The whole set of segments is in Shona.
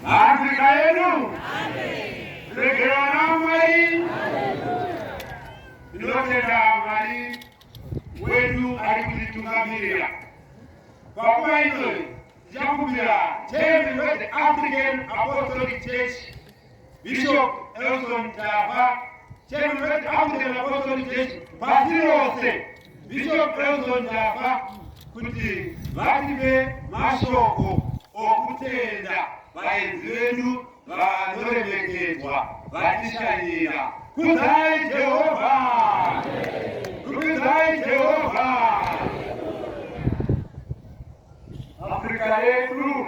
Afrika yedu regerwa naMwari. Ndinotenda Mwari wedu ari kutitungamirira panguva inoi tichakumbira chairman weThe African Apostolic Church Bishop Elson Tava, Chairman of the African Apostolic Church, pasi rose, Bishop Elson Tava, kuti vative mashoko okutenda vaenzi vedu vanoremekedzwa vatishanyira. Kudzai Jehovha! Kudzai Jehovha! Afrika yedu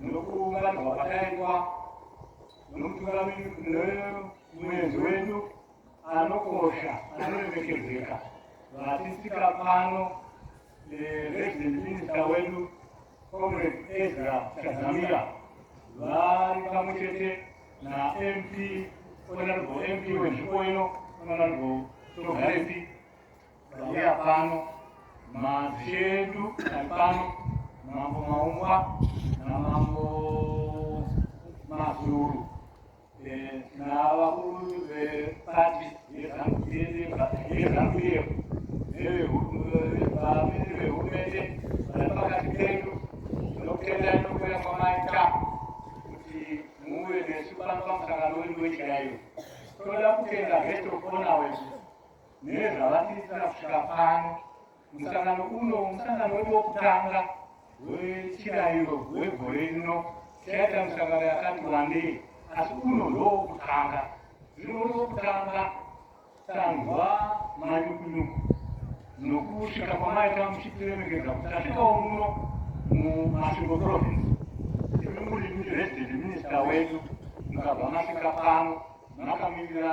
nokuungana kwakaitwa nomutungamiri nomuenzi wedu anokosha anoremekedzeka vatisika pano resident minista wedu comrade ezra chazamira vari pamwe chete namp honorable mp wenzvimbo ino honorable togarepi Tauya pano madzishe edu ari pano mambo Maumba namambo Mazuru eh, navakuru vepati yezanu yedu nevehurumende vari pakati pedu tinotenda inokuya kwamaita kuti muve nesu pano pamusangano wedu wenyika yedu toda kutenda hetokonawe nezvavatiitira kusvika pano musangano uno musangano wedu wokutanga wechirayiro wegore rino chaita misangano yakati wandei asi uno ndowokutanga zvino uri wokutanga tanzwa manyukunyuku nokusvika kwamaita muchitiremekedza kuti tasvikawo muno mumasvingo province imi muri resident minister wedu mukabva masvika pano makamirira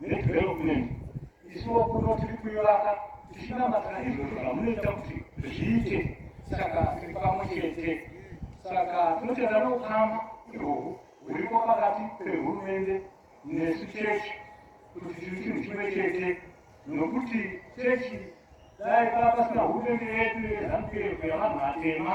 nedevelopment isuwo kuno tiri kuivaka tichinamatana izvozvo zvamunoita kuti zviite saka tiri pamwe chete saka tinotenda noukama ihwohwo huriko pakati pehurumende nesu chechi kuti tiri chinhu chimwe chete nokuti chechi dai paa pasina hurumende yedu yezanupf yavanhu vatema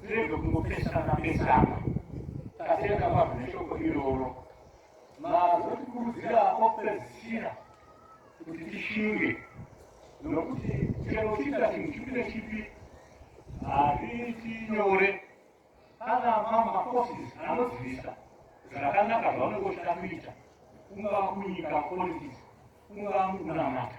Tirege kungopesana pesana tatenga vanhu neshoko iroro mazotikurudzira opedzisira kuti tishinge nokuti chero uchiita chinhu chipi nechipi hazviiti nyore kana mamaforces anozivisa zvakanaka zvaunenge uchida kuita kungava kunyika politics kungava mukunamata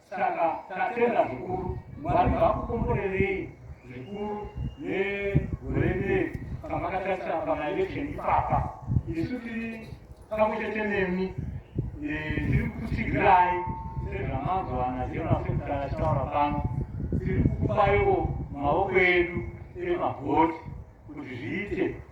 Saka tatenda zvikuru Mwari vakukomborerei zvikuru negore rine pamakatarisira pamaelection ipapa isu tiri pamwe chete nemi tiri kukutsigirai sezvamazwana jona sekutara achitaura pano tiri kukupaiwo maoko edu emavhoti kuti zviite